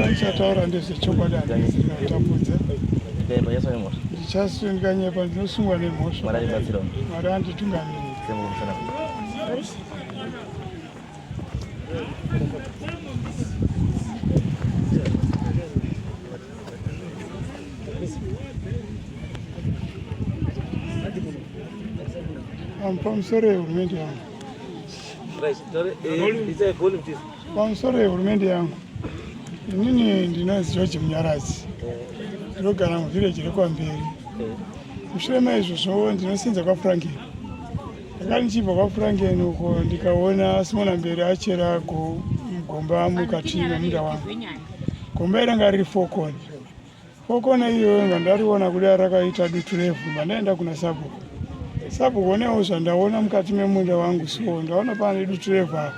ndichataura ndezvechokwadi andisiatapudza ndichasundika nyepa ndinosungwa nemhosva mwari anditungamirira I'm from Surrey, Romania. pamusoro yehurumende yangu inini ndinonzi george munyaradzi ndinogara muvhireji rekwamberi mushure maizvozvo ndinosenza kwafranken ndaka ndichibva kwafranken uko ndikaona simona mberi achera gomba mukati memunda wangu gomba iranga riri fokoni Kokona iyoyo ngandariona kuda rakaita dutu revhu mandaenda kuna sabhuku sabhuku onewo zvandaona mukati memunda wangu so ndaona pane dutu revhu apa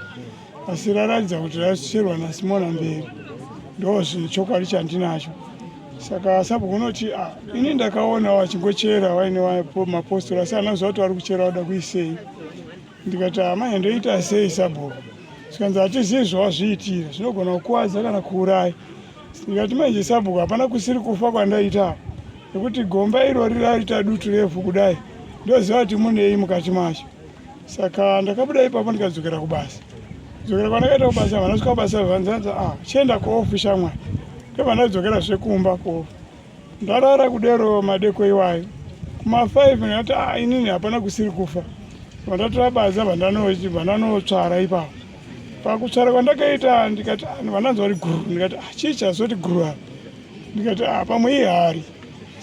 asi raratidza kuti rasicherwa nasimona mberi ndo zvinhu chokwadi chandinacho saka sabhuku unoti ah, ini ndakaona wachingochera waine mapostori asi anaziva kuti vari kuchera wada kuisei ndikati amai ndoita sei sabhuku zvikanzi hatizivi zvawazviitira zvinogona kukwadza kana kuurayi ndikati manje sabhuku hapana kusiri kufa kwandaita nekuti gomba irori raita dutu refu kudai ndoziva kuti munei mukati macho saka ndakabuda ipapo ndikadzokera kubasa dzokera kwandakaita kubasa vanasvika kubasa vanzanza ah, chienda kuofi shamwari ndovanadzokera zvekumba kuofi ndarara kudero madeko iwayo kuma 5 ndati ah, inini hapana kusiri kufa vandatora baza vandanotsvara ipapo pakutsvara kwandakaita ndikati ah, vananzi vari guru ndikati ah, chii chazoti guru apa ndikati pamwe ihari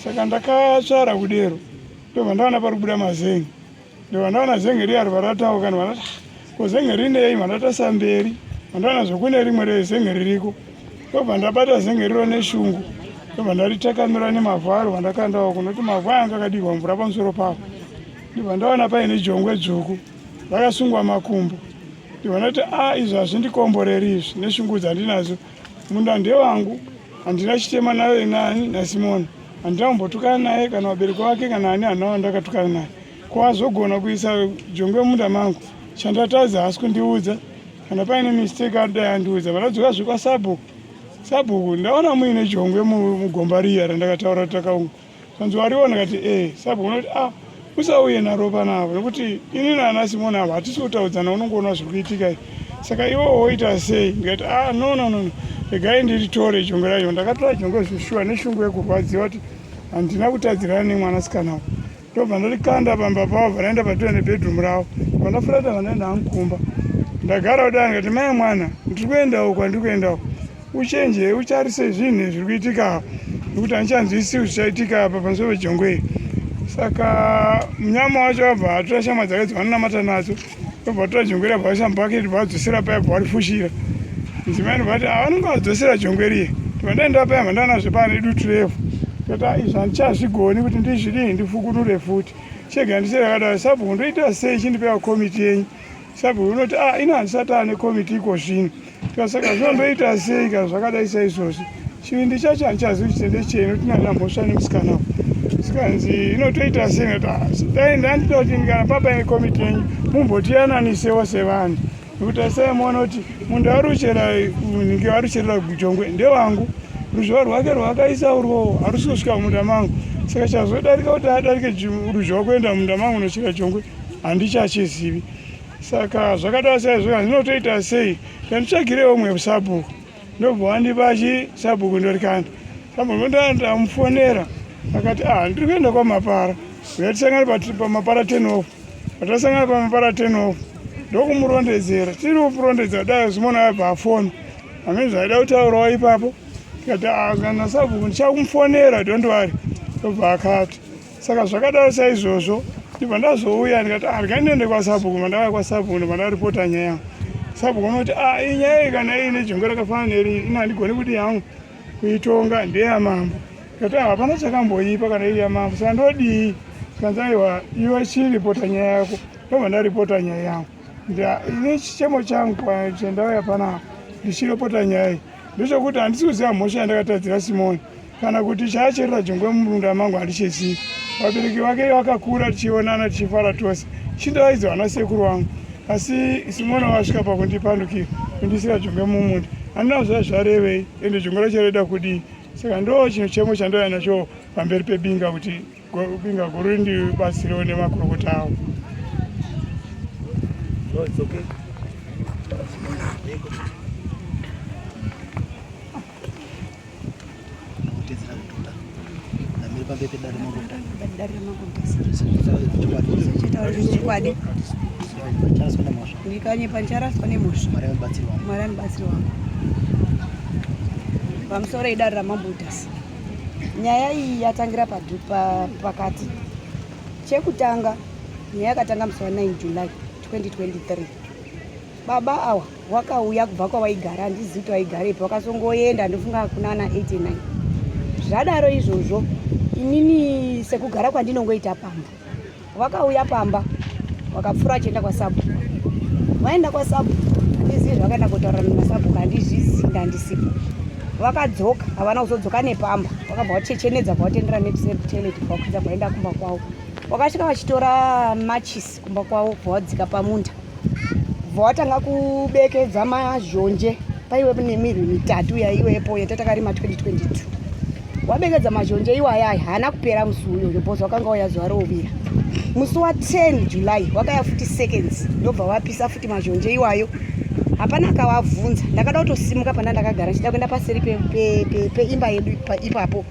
saka ndakatsvara kudero ndovandaona pari kubuda mazengi ndovandaona zenge riyari varatawo kana vanati ko zenge rinei vandatasa mberi vandaona zvekune rimwe rezenge ririko ndobva ndabata zenge riro neshungu ndobva ndaritakamira nemavhu aro vandakandawo kunoti mavhu aya angakadirwa mvura pamusoro pavo ndibva ndaona paine jongwe dzvuku rakasungwa makumbo ndibva ndati a ah, izvi hazvindikomboreri izvi neshungu dzandinadzo Munda ndewangu, handina chitema naye nani naSimona. Handina kumbotukana naye kana vabereki vake kana ani hana vandakatukana naye. Ko azogona kuisa jongwe munda mangu. Chandatadza hasi kundiudza. Kana paine mistake adai andiudza. Vanadzoka zvekwasabhuku. Sabhuku, ndaona muine jongwe mugomba riya randakataura takaunga. Hanzi wariona kati eh sabu unoti ah usauye naropa navo nekuti ini nana simoni avo hatisi kutaudzana unongoona zviri kuitika saka iwo woita sei ndikati ah no no no regai ndiritore jongwe racho ndakatora jongwe zveshuwa neshungu yekurwadziwa kuti handina kutadzirana nemwanasikana wo ndobva ndarikanda pamba pavo vanaenda patove nebedroom ravo vanafurata vanaenda hangu kumba ndagara kudai ndikati mai mwana ndiri kuendawo kwandiri kuendawo Uchenje utarise zvinhu zviri kuitika nekuti handichanzwisi kuti zvichaitika apa pamusoro pejongwe iri. Saka munyama wacho abva atora shamwa dzake dzavanonamata nadzo obva atora jongwe iri abva aisa mubhaketi obva adzosera paya abva arifushira. Mudzimai anobva ati avanenge ah, vadzosera jongwe riye tovandaenda paya abva ndanazve paya nedutu revhu tata izvi handichazvigoni kuti ndizvidii ndifukunure futi chega ndisiri akadaro sabhuku ndoita sei chindipeiwa komiti yenyu Sabhuku unoti a ah, ino handisati ane komiti iko zvino tikasaka zvinomboita sei kana zvakadai saizvozvi chivindi chacho handichazi kuti tende chei inoti nana mhosva nemusikana wo sikanzi inotoita sei noti ah, dai ndandida kuti ndikana papa ine komiti yenyu mumbotiyananiseo sevanhu nekuti asai muona kuti munhu aruchera nhingi arucherera kujongwe ndewangu ruzhowa rwake rwakaisa urwowo harusi kusvika mumunda mangu saka chazodarika kuti adarike ruzhowa kuenda mumunda mangu nochera jongwe handichachizivi saka zvakadaro saizvo zvinotoita sei ndanditsvagirewo umwe sabhuku ndobva wandipa chi sabhuku ndorikanda sabhuku ndandamufonera akati ah ndiri kuenda kwamapara uyatisangana pamapara ten off patasangana pamapara ten off ndokumurondedzera tiri kupurondedza kudai zvimona abva afona amene zvaida kutaurawo ipapo tikati ah, kana sabhuku ndichakumufonera dondwari ndobva akati saka zvakadaro saizvozvo ndibva ndazouya ndikati handika ah, ndiende kwasabhuku mandauya kwasabhuku ndibva ndaripota nyaya yangu sabhuku anoti a ah, iyi nyaya iyi kana iyi nejongwe rakafanana neri ina handigoni kuti yangu kuitonga ndeyamambo ndikati ah, hapana chakamboipa kana iri yamambo saka ndodii zvikanzi aiwa iwe chiripota nyaya yako ndobva ndaripota nyaya yangu ini chichemo changu chendauya panapa ndichiripota nyaya iyi ndezvokuti handisi kuziva mhosva yandakatadzira simoni kana kuti chaacherera jongwe mumunda mangu handichezii vabereki vake vakakura tichionana tichifara tose chindaidzo hana sekuru wangu asi simoni wasvika pakundipandukira kundisira jongwe mumunda handina kuziva zvarevei ende jongwe racho raida kudii saka ndo chinhu chemo chandaiva nacho pamberi pebinga kuti Binga guru ndibatsirewo nemakurukota awo. No, it's okay. ndikanyepa ndicharaswa nemhosva mwari anobatsirwa wangu pamusoro edare ramambo utasi nyaya iyi yatangira pakati chekutanga nyaya yakatanga musi wa 9 july 2023 baba awa wakauya kubva kwavaigara handizivi kuti vaigara ipi vakasongoenda ndofunga hakuna ana 89 zvadaro izvozvo inini sekugara kwandinongoita pamba Wakauya pamba wakapfura achienda kwasabu waenda kwasabu handizivi zvakaenda kutaura nemasabu handizvizi ndandisipo vakadzoka havana kuzodzoka nepamba vakabva vachechenedza bva vatendera neseteleti bva vakudza vaenda kumba kwavo wakasvika vachitora machis kumba kwavo bva vadzika pamunda bvatanga kubekedza mazhonje paiwe nemirwi mitatu yaiwepo yatatakarima 2022 wabekedza mazhonje iwayaya haana kupera musi uyoyo bhozi wakanga waya zuva rouvira musi wa 10 july wakaya futi seconds ndobva wapisa futi mazhonje iwayo hapana akawabvunza ndakada kutosimuka pana ndakagara ndichida kuenda paseri peimba yedu ipapo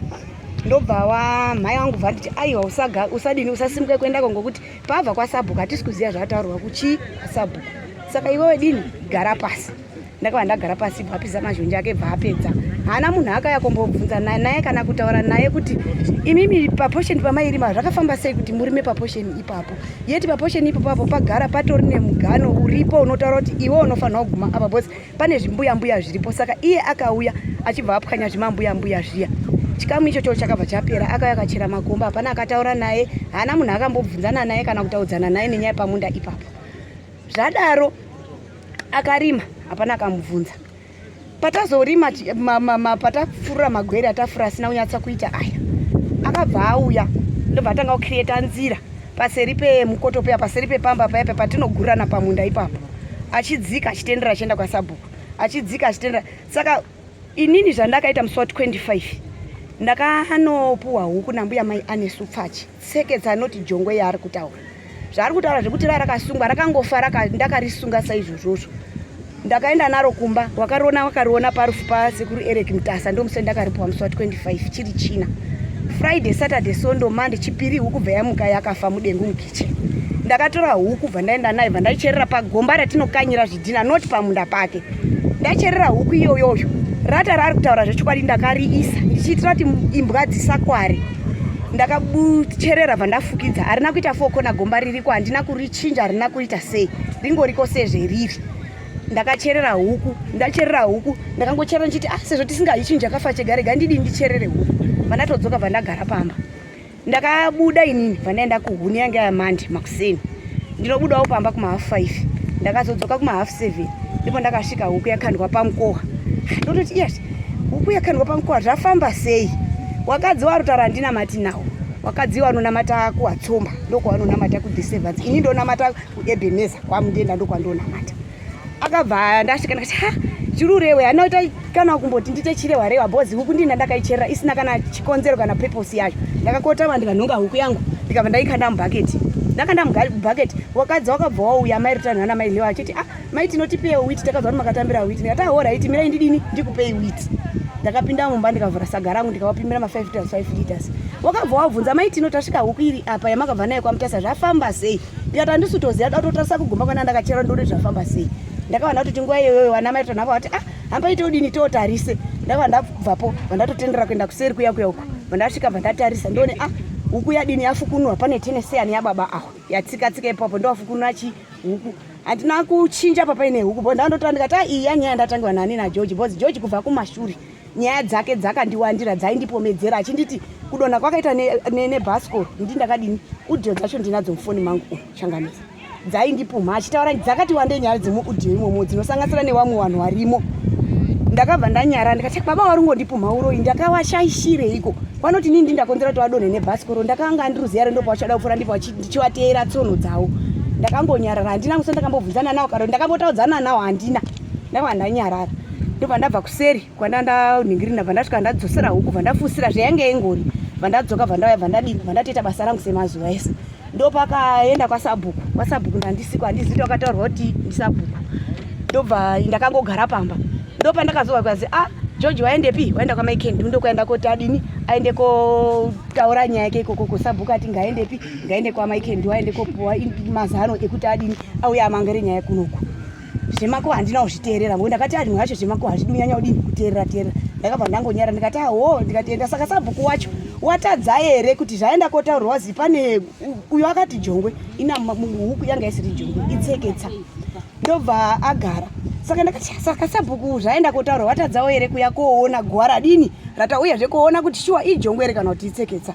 ndobva wamhai wangu bva nditi aiwa usadini usasimuke kuendako ngokuti Pava kwasabhuku hatisi kuziva zvataurwa kuchii kwasabhuku. Saka iwewe dini gara pasi. Ndakava ndagara pasi ibva apisa mazhonje ake ibva apedza. Haana munhu akaya kumbobvunza naye naye kana kutaura naye kuti imimi paposheni pamairima zvakafamba sei kuti murime paposheni ipapo. Yeti paposheni ipapo pagara patori nemugano uripo unotaura kuti iwe unofanira kuguma apa bosi. pane zvimbuya mbuya zviripo saka iye akauya achibva apwanya zvimambuya mbuya zviya chikamu icho choo chakabva chapera akauya akachera makomba hapana akataura naye haana munhu akambobvunzana naye kana kutaudzana naye nenyaya pamunda ipapo zvadaro akarima hapana akamubvunza patazorima patafurura magwere atafura asina kunyatsa kuita aya akabva auya ndobva atanga kucreata nzira paseri pemukoto paya paseri pepamba paya patinogurana pamunda ipapo achidzika achitendera achienda kwasabhuku achidzika achitendera saka inini zvandakaita musi wa 25 ndakanopuwa huku nambuya mai anesu pfachi tseketsa anoti jongwe yaari kutaura zvaari kutaura zvekuti ra rakasungwa rakangofa ndakarisunga saizvozvozvo ndakaenda naro kumba wakariona wakariona parufu pasekuru eric mutasa ndomusi ndakaripuwa musi wa 25 chiri china friday saturday sondo mande chipiri huku bva yamuka yakafa mudengu mukichen ndakatora huku bva ndaenda nayo bva ndaicherera pagomba ratinokanyira zvidhina not pamunda pake ndacherera huku iyoyoyo rata raari kutaura zvechokwadi ndakariisa ndichiitira kuti imbwa dzisakware ndakabucherera bva ndafukidza harina kuita fokona gomba ririko handina kurichinja harina kuita sei ringoriko sezveriri ndakacherera huku ndacherera huku ndakangocherera ndichiti ah sezvo tisingayi chinhu chakafa chegarega ndidii ndicherere huku vandatodzoka bvandagara pamba ndakabuda inini bvandaenda kuhuni yange yamandi makuseni ndinobudawo pamba kumahalf five ndakazodzoka kumahalf seven ndipo ndakasvika huku yakandwa pamukoha ndototi yes huku yakandwa pamukoha zvafamba sei wakadzi warutara handinamati nawo wakadzi wanonamata kuwatsomba ndokuwanonamata kudhisevansi ini ndonamata kuEbeneza kwaMundenda ndokwandonamata akabva ndasvika ndakati ha chirurewe hana ita kana kumboti ndite chirewa rewa bhozi huku ndina ndakaicherera isina kana chikonzero kana purpose yacho ndakakotama ndikanhonga huku yangu ndikabva ndaikanda mubhaketi ndakanda mubhaketi wakadzi wakabva wauya mai rutano ana mai lewa achiti ah mai tinotipei witi takabva makatambira witi ndikati ah hora iti mirai ndidini ndikupei witi ndakapinda mumba ndikavhura saga rangu ndikavapimira ma5 liters 5 liters wakabva wabvunza mai tino tasvika huku iri apa yamakabva nayo kwamutasa zvafamba sei ndikati handisi kutoziva datotarisa kugomba kwana ndakachera ndori zvafamba sei ndakavana kuti tinguva iyoyoyo vanamai tonhava vati ah hamba ite udini tootarise ndakava ndabvapo vandatotendera kuenda kuseri kuya kuya uku vandasvika vandatarisa ndione ah huku yadini yafukunwa pane teneseyani yababa awa yatsikatsika ipapo ndowafukunwa chi huku handina kuchinja papaine huku bo ndandotora ndikati ah iyi yanyaya ndatangiwa nani nageorge bcause george kubva kumashure nyaya dzake dzakandiwandira dzaindipomedzera achinditi kudonha kwakaita nebasco ne, ne ndi ndakadini udio dzacho ndinadzo mufoni mangu oh, changamisa dzaindipumha achitaura dzakati wande nyaya dzemuudio imomo dzinosanganisira nevamwe vanhu varimo ndakabva ndanyara ndikati baba wari ungondipumha uroyi ndakawashaishireiko vanoti nini ndindakonzera kuti vadonhe nebhasikoro ndakanga andiruziya rendo pavachada kupfuura ndipo ndichivateera tsono dzavo ndakangonyarara handina musa ndakambobvunzana nawo karo ndakambotaudzana nawo handina ndava ndanyarara ndobva ndabva kuseri kwanda ndaningiri ndabva ndasvika ndadzosera huku bva ndafusira zvayange ingori bva ndadzoka bva ndauya bva ndadini bva ndatoita basa rangu semazuva ese ndopakaenda kwasabhuku kwasabhuku ndandisiko handizivi kuti wakataurwa kuti ndisabhuku ndobva ndakangogara pamba ndopandakazowa kwazi a ah, george waendepi waenda kwamaikendi ndokwaenda koti adini aende kotaura nyaya yake ikoko kusabhuku ati ngaendepi ngaende kwamaikendi waende kopuwa mazano ekuti adini auya amangere nyaya kunoku zvemako handina kuzviteerera ngo ndakati anhu yacho zvemako hazvidi unyanya udini kuteerera teerera ndakabva ndangonyara ndikati aho ndikatienda saka sabhuku wacho watadza here kuti zvaenda kotaurwa wazi pane uyo akati jongwe ina huku yanga isiri jongwe itseketsa ndobva agara saka ndakati saka sabhuku zvaenda kotaurwa watadzawo here kuya koona gwara dini ratauyazve koona kuti shuwa ijongwe here kana kuti itseketsa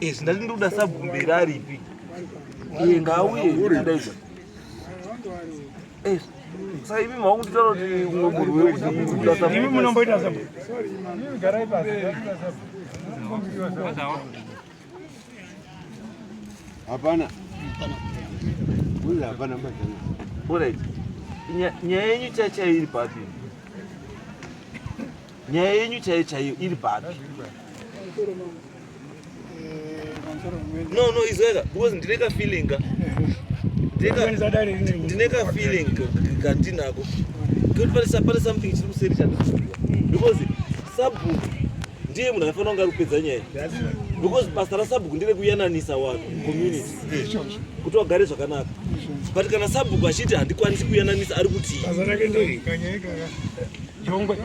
Izvi ndati ndikuda sabvumbira aripi iye ngauye ndaidza saka imi makunditaura kuti umwe munhu wekudaimi munomboita sa hapana hapana orit nyaya yenyu chachairi papi Nyaya yenyu chaiyo chaiyo iri papi? No, no, izweka because ndine ka feeling ka. Ndine ka feeling ka ndinako. Kuti pale sapale something chiri kuseri chandikuziwa. Because sabhuku ndiye munhu aifanira kunge ari kupedza nyaya because basa rasabhuku ndere kuyananisa vanhu community kuti wagare zvakanaka but kana sabhuku achiti handikwanisi kuyananisa ari kutii Jongwe.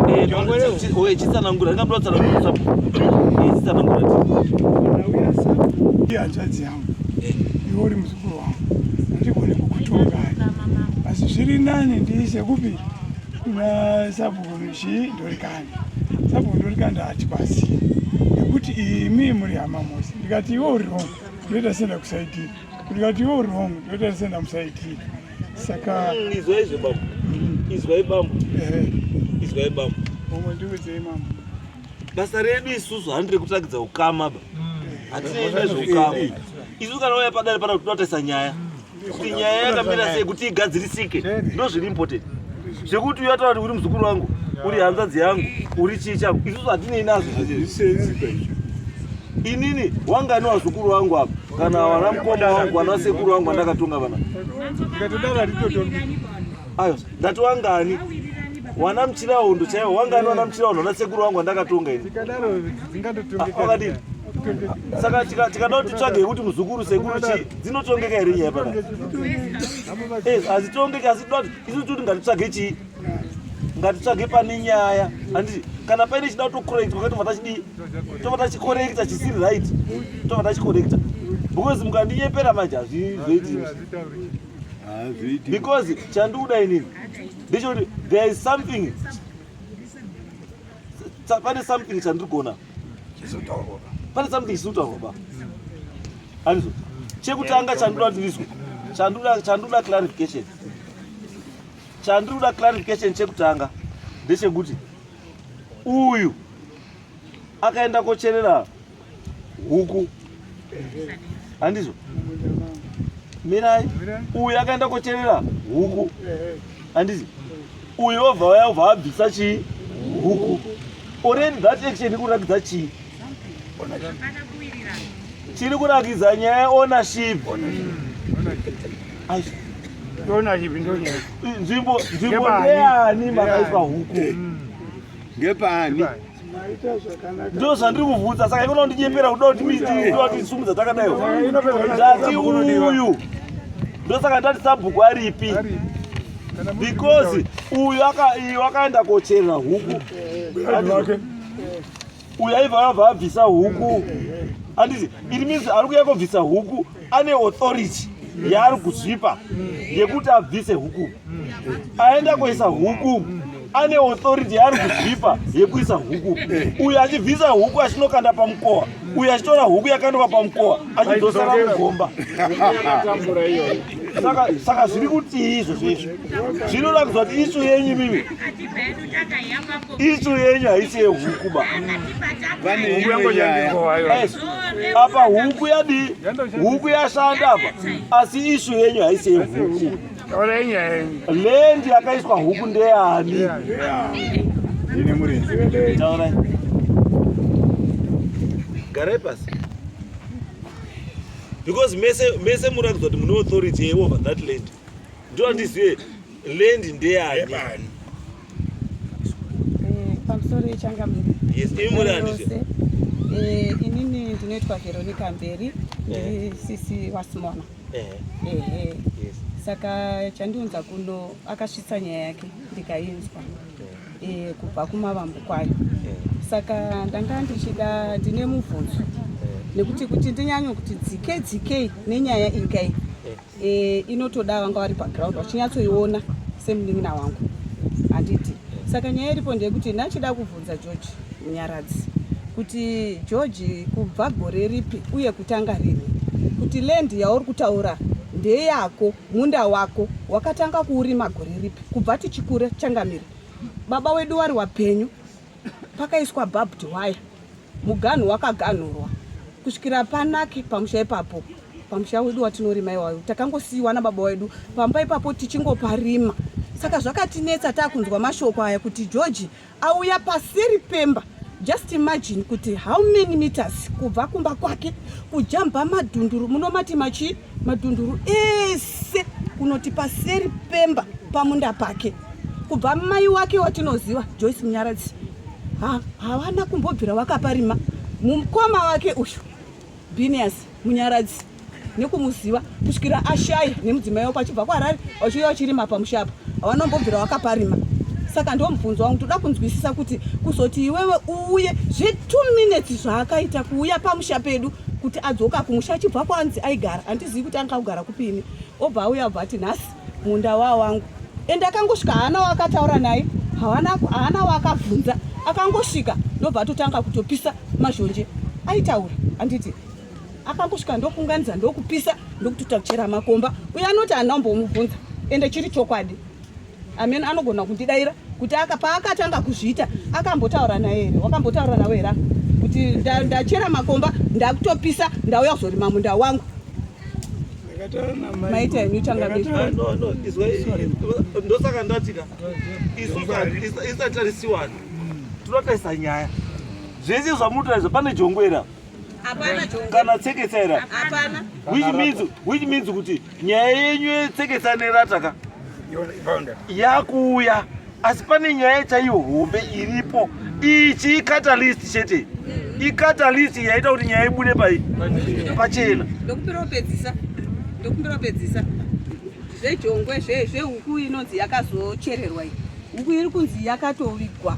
Eh, Jongwe leo. Oye chisa na ngura, ngabro tsala ngura sapo. Eh, chisa na ngura. Ndauya sapo. Ndi hanzvadzi yangu. Eh. Iwe uri muzukuru wangu. Ndigone kukutonga. Asi zviri nani ndiise kupi? Na sapo nchi ndori kani. Sapo ndori kani ndati basi. Nekuti imi muri hama mose. Ndikati iwe uri wrong. Ndoita senda kusaidira. Ndikati iwe uri wrong. Ndoita senda musaidira. Saka mm, izwai zve bambo. Izwai bambo. Eh. Izwai bambo. Bambo ndiudzei mambo. Basa redu isusu handire kutakidza ukama ba. Mm. Hatine zveukama. Isu kana uya padare pana kutotaisa nyaya. Kuti nyaya yakamira sei kuti igadzirisike. Ndozviri important. Zvekuti uya taura kuti uri muzukuru wangu, uri hanzvadzi yangu, uri chii changu. Isusu hatinei nazvo. Hazvisenzi. Inini wanga ni wazukuru wangu hapa kana wana mkoma wangu wana sekuru wangu andakatonga vana ayo ndati wangani wana mchirahondo chaiwo wangani wana mchirahondo wana sekuru wangu andakatonga ini wakadini saka tikada kuti tsvage yekuti muzukuru sekuru chii dzinotongeka here nyaya pana hazitongeki asi tinoda kuti isu toti ngatitsvage chii ngatitsvage pane nyaya handiti kana paine chida kutokorekta kwaka tobva tachidii tobva tachikorekta chisiri right tobva tachikorekta because mukandinyepera manje hazvizoiti because chandikuda inini ndechekuti there is something pane something chandirigona pane something chisinotaurwa ba handizo chekutanga chandinoda kuti ndizwe chandoda clarification Chandiri kuda clarification chekutanga ndechekuti uyu akaenda kocherera huku handizvo mirai uyu akaenda kocherera huku handizi uyu obva waya obva abvisa chii huku already that action ikuratidza chii chiri kurakidza nyaya yeownership nzvimbo nzvimbo ndeani makaiswa huku mm. ngepaani ndo zvandiri kuvhunza saka ikono ndinyepera kuda kutiisumudza takadaiwo ndati uyu ndosaka ndati sabhuku aripi because uyu iyo akaenda kocherera huku uyu aiva abva abvisa huku anditi it means ari kuya kobvisa huku ane authority yaari kuzvipa yekuti abvise huku aenda koisa huku ane authority yaari kuzvipa yekuisa huku uyu achibvisa huku achinokanda pamukowa uyu achitora huku yakandoka pamukowa achidzosara mugomba saka zviri kutii izvozvo izvo zvinoda kuziva kuti isu yenyu mimi Isu yenyu haisi yehuku ba. Huku yangu yangu apa huku yadi huku yashanda apa asi ishu yenyu haisi yehuku lendi yakaiswa huku ndeyani garai pasi because mese mese muratidzwa kuti mune authority yeover that land ndoda ndizive land ndeyani eh, pamusoro yechangamire yes imi muri andizve eh, inini ndinoitwa veronica mberi eh. ndiri sisi wasimona ehe saka chandiunza kuno akasvitsa nyaya yake ndikainzwa kubva kumavambo kwayo saka ndanga ndichida ndine mubvunzo nekuti kuti ndinyanye kuti dzike dzikei nenyaya ingai e, inotoda vanga vari paground vachinyatsoiona semunin'ina wangu handiti saka nyaya iripo ndeyekuti ndachida kubvunza george munyaradzi kuti george kubva gore ripi uye kutanga rini kuti land yauri kutaura ndeyako munda wako wakatanga kuurima gore ripi kubva tichikura changamire baba wedu wari wapenyu pakaiswa barbed wire muganhu wakaganhurwa kusvikira panake pamusha ipapo pamusha wedu watinorima iwayo takangosiyiwa nababa wedu pamba ipapo tichingoparima saka zvakatinetsa taakunzwa mashoko aya kuti george auya paseri pemba just imagine kuti how many meters kubva kumba kwake kujamba madhunduru munomati machii madhunduru ese kunoti paseri pemba pamunda pake kubva mai wake watinoziva joyce munyaradzi havana kumbobvira vakaparima mukoma wake uyu binias munyaradzi nekumuziva kusvikira ashaya nemudzimai wako achibva kwarari vachiuya vachirima pamushapa havanombobvira vakaparima saka ndo mubvunzo wangu toda kunzwisisa kuti kuzoti iwewe uuye zve two minutes zvaakaita kuuya pamusha pedu kuti adzoka kumusha achibva kwanzi aigara handizivi kuti anga kugara kupini obva auya abva ati nhasi munda waa wangu ende akangosvika haana waakataura naye haana waakabvunza akangosvika ndobva atotanga kutopisa mazhonje aitaura handiti akangosvika ndokunganidza ndokupisa ndokutotachera makomba uye anoti haana kumbomubvunza ende chiri chokwadi Amen anogona kundidaira kuti aka paakatanga kuzviita akambotaura naye here wakambotaura nawe here kuti ndachera makomba ndakutopisa ndauya kuzorima munda wangu maita henyu tangandosaka ndatika isatarisiwana tinotarisa nyaya zvese zvamunotaridza pane jongwera kana tseketsa ira which means which means kuti nyaya yenyu yetseketsa nerata ka yakuuya asi pane nyaya chaiyo hombe iripo ichi icatalist chete mm. icatalist yaita kuti nyaya ibude pai pachena ndokumbira upedzisa ndokumbira upedzisa zvejongwe zvehuku inonzi yakazochererwa iyi huku iri kunzi yakatovigwa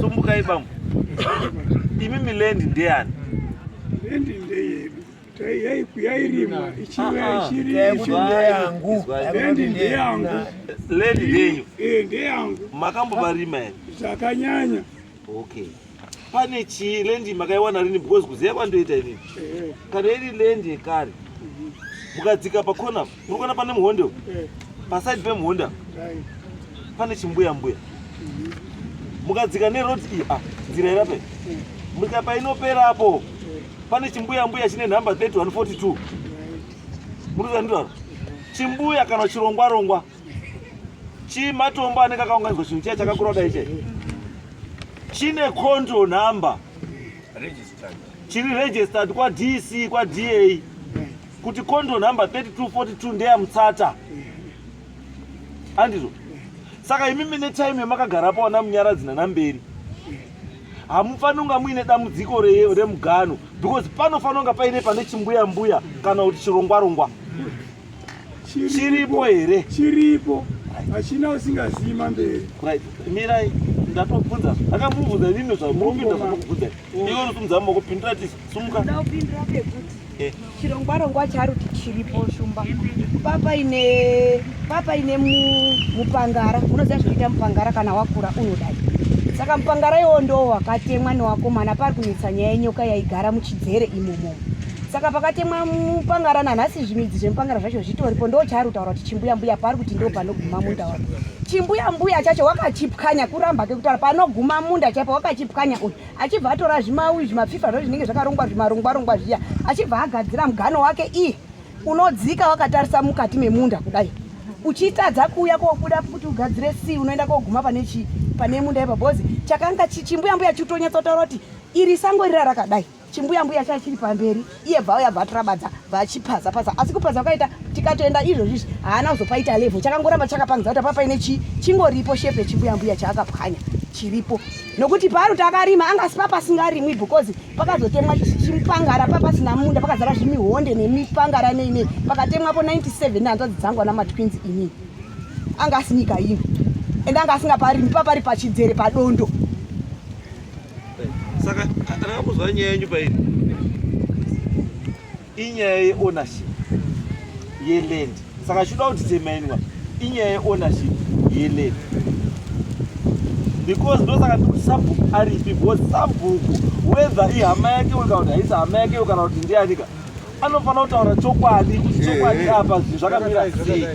sumbukai bambo imi milendi ndeyani lendi ndeyedu yaikuyairima ichiva ichiriyangu lendi ndeyangu lendi ndeyu eh, ndeyangu makambovarima here zvakanyanya okay pane chii lendi makaiwana rini because kuziva kwandoita inini eh. kana iri lendi yekare mukadzika pakona Murikuona pane muhonde uko. Paside pemuhonde apa. Pane chimbuya mbuya. Mukadzika ne road iyi ah nzira irape. Murika painopera apo. Pane chimbuya mbuya chine number 3142. Muruza ndiro. Chimbuya kana chirongwa rongwa. Chimatombo anenge akaunganizwa chinhu chiya chakakura kudai chai. Chine control number. Registered. Chiri registered kwa DC kwa DA. kuti kondo number 3242 ndeya mutsata andizvo saka imi mine time yamakagara pawana munyaradzi nanamberi hamufaniri kunga muine dambudziko remugano because panofanira kunga paine pane chimbuya mbuya kana kuti chirongwarongwa chiripo here chiripo hachina usingazivi mamberi right mirai ndatobvunza akamubvunza nini zvamurombinda zvamukubvunza iwe unosimudza moko pindira tisi sumuka chirongwarongwa charuti chiripo shumba papaine papaine mupangara unoziva zvinoita mupangara kana wakura unodai saka mupangara iwo ndo wakatemwa newakomana pari kunetsa nyaya yenyoka yaigara muchidzere imomo saka pakatemwa mupangara nanhasi zvimidzi zvemupangara zvacho zvitoripo ndo chaari kutaura kuti chimbuya mbuya paari kuti ndo panoguma munda wake chimbuya mbuya chacho wakachipwanya kuramba kekutaura panoguma munda chaipo wakachipwanya uyu achibva atora zvimawi zvimapfifa zvo zvinenge zvakarongwa zvimarongwa rongwa zviya achibva agadzira mugano wake ii unodzika wakatarisa mukati memunda kudai uchitadza kuuya kobuda kuti ugadzire si unoenda koguma pane chii pane munda ipa bhozi chakanga chimbuyambuya chitonyatsotaura kuti iri sango rira rakadai chimbuyambuya chachiri pamberi iye vauya vatirabadza vachipaza paza asi kupaza kwakaita tikatoenda izvozvizvi haana kuzopaita level chakangoramba chakapangidza kuti apa paine chii chingoripo shepe chimbuyambuya chaakapwanya chiripo nokuti paari takarima angasi papasingarimwi because pakazotemwa chimupangara papasina munda pakazara zvimihonde nemipangara neinei pakatemwapo 97 nehanzvadzi dzangu ana matwins inini anga asi nyika ino ende anga asingaparimi papari pachidzere padondo saka atanga kuzwa nyaya yenyu pairi inyaya yeownership yeland saka chinoda kuti temainwa inyaya yeownership yeland because ndosaka ndikuti sabhuku aripi because sabhuku whether ihama yake uyo kana kuti haisi hama yake uyo kana kuti ndiyanika anofanira kutaura chokwadi kuti chokwadi apa zvinhu zvakamira sei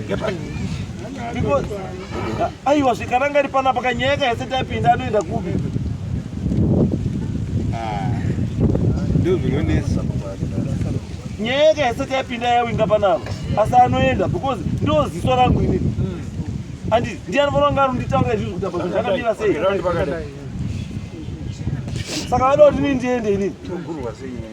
because aiwa zvikaranga ri panapa kanyaya yaka yese taipinda anoenda kupi ah, ndozvinonesa nyaya yaka yese taipinda yawinga panapa asi anoenda because ndo ziso rangu ini andi ndiye anofanira kunge arunditaura izvizvi kuti apa zvinhu zvakamira sei saka vada kuti nii ndiende inini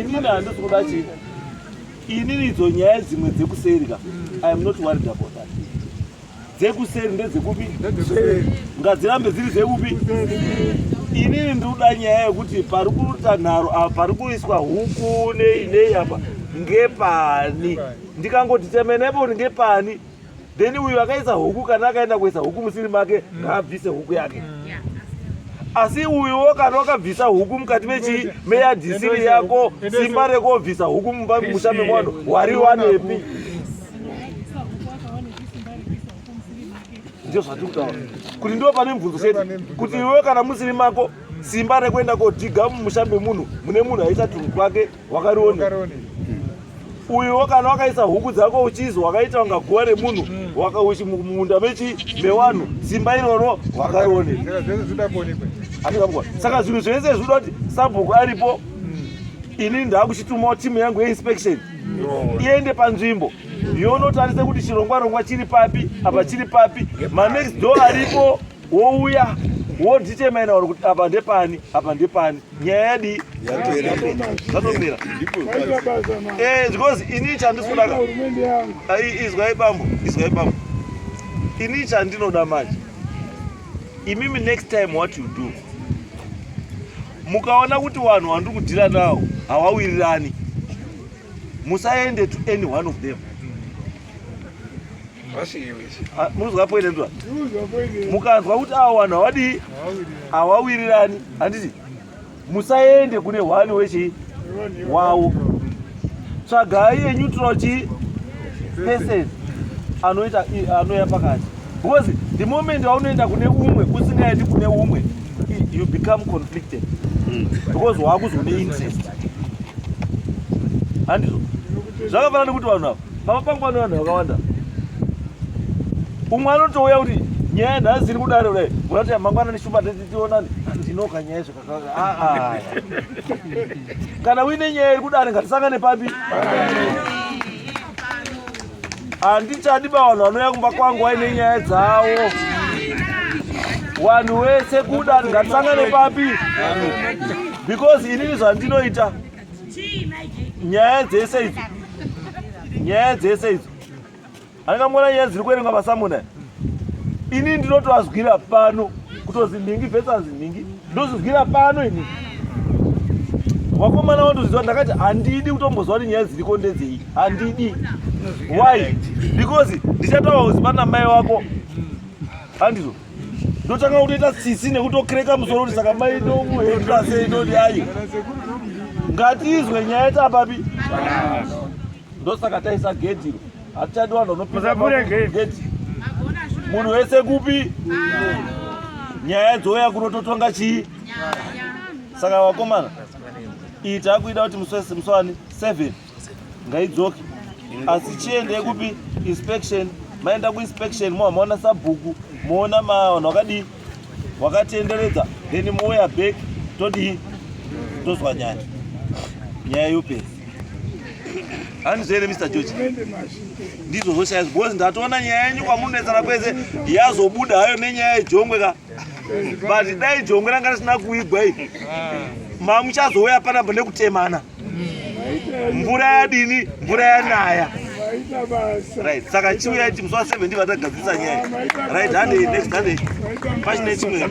inini handisi kuda chii inini idzo nyaya dzimwe dzekuseri ka iam not worried about that dzekuseri ndedzekupi ngadzirambe dziri dzekupi inini ndikuda nyaya yekuti pari kuita nharo apa pari kuiswa huku nei nei apa ngepani ndikangoti temenepo ngepani then uyu akaisa huku kana akaenda kuisa huku musiri make mm. ngaabvise huku yake mm. asi uyuwo kana wakabvisa huku mukati mechii meyadhisiri yako simba rekobvisa huku mumba musha mekwano wari wanepi ndizvo zvatiri kutaura kuti ndiwo pane mubvunzo chete kuti iwewe kana musiri mako simba rekuenda kodhiga mumusha memunhu mune munhu aisa tunhu kwake wakariona uyo kana wakaisa huku dzako uchizi wakaita unga guva remunhu mm. wakauchi mumunda mechi mewanhu simba iroro wakarione saka zvinhu zvese zvinoda kuti sabhuku aripo mm. ini ndakuchitumawo timu yangu yeinspection iende panzvimbo yonotarise kuti chirongwa rongwa chiri papi apa chiri papi manext door aripo wouya wondichemena uri kuti apa ndepani apa ndepani nyaya yadii zvatopera eh, because ini chandisudaka izwai bambo izwai bambo ini chandinoda manje imimi next time what you do mukaona kuti vanhu vandiri kudhira nawo hawawirirani musaende to any one of them Ah, munonzwa poine ndwa mukanzwa kuti awa vanhu hawadii hawawirirani handiti musaende kune hwani wechii wawo tsvagai eneutral chii person anoita anoya pakati because the moment waunoenda kune umwe usingaendi kune umwe you become conflicted hmm. because waakuzwa une interest handizvo zvakafanana nekuti vanhu ava Pava pangu vano vanhu vakawanda. Umwe anotouya kuti nyaya yanhasi iri kudaro kudai mona kuti mangwana neshuma tionani ndinoka nyaya zvakakaka aa ah, ah, ah. kana uine nyaya iri kudare ngatisangane papi handichadi pavanhu vanouya kumba kwangu waine nyaya dzavo wanhu wese kudare ngatisangane papi because inini zvandinoita nyaya dzese idzo nyaya dzese idzo angamona nyaya dziri kuerengwa masamuna ini ndinotoazwira pano kutozi nhingi vesanzi nhingi ndozvizwira pano ini wakomana wandozviziva ndakati handidi kutomboziva kuti nyaya dziriko ndedzei handidi why because ndichataura kuzi pana mai wako handizvo ndotanga kutoita tsitsi nekutokreka musoro kuti saka mai ndomuhenda sei ndoti ayi ngatizwe nyaya tapapi ndosaka taisa gedhi iro hatichadi vanhu vanopinagedhi munhu wese kupi nyaya dzouya kunototonga chii saka vakomana iyi takuida kuti muswani seven ngaidzoke asi chiendei kupi inspection maenda kuinspection moa maona sabhuku moona mavanhu wakadii wakatenderedza then mouya back todii tozwa nyaya nyaya yopedza handizvere mr george ndizvo zvoshaya because ndatoona nyaya yenyu kwamunonetsana kwese yazobuda hayo nenyaya yejongwe ka but dai jongwe ranga risina kuigwa i mamuchazouya panapa nekutemana mvura yadini mvura yanaya right saka chiuya iti musi wa 7 ndivatagadzisa nyaya right hande next hande pachine chimwe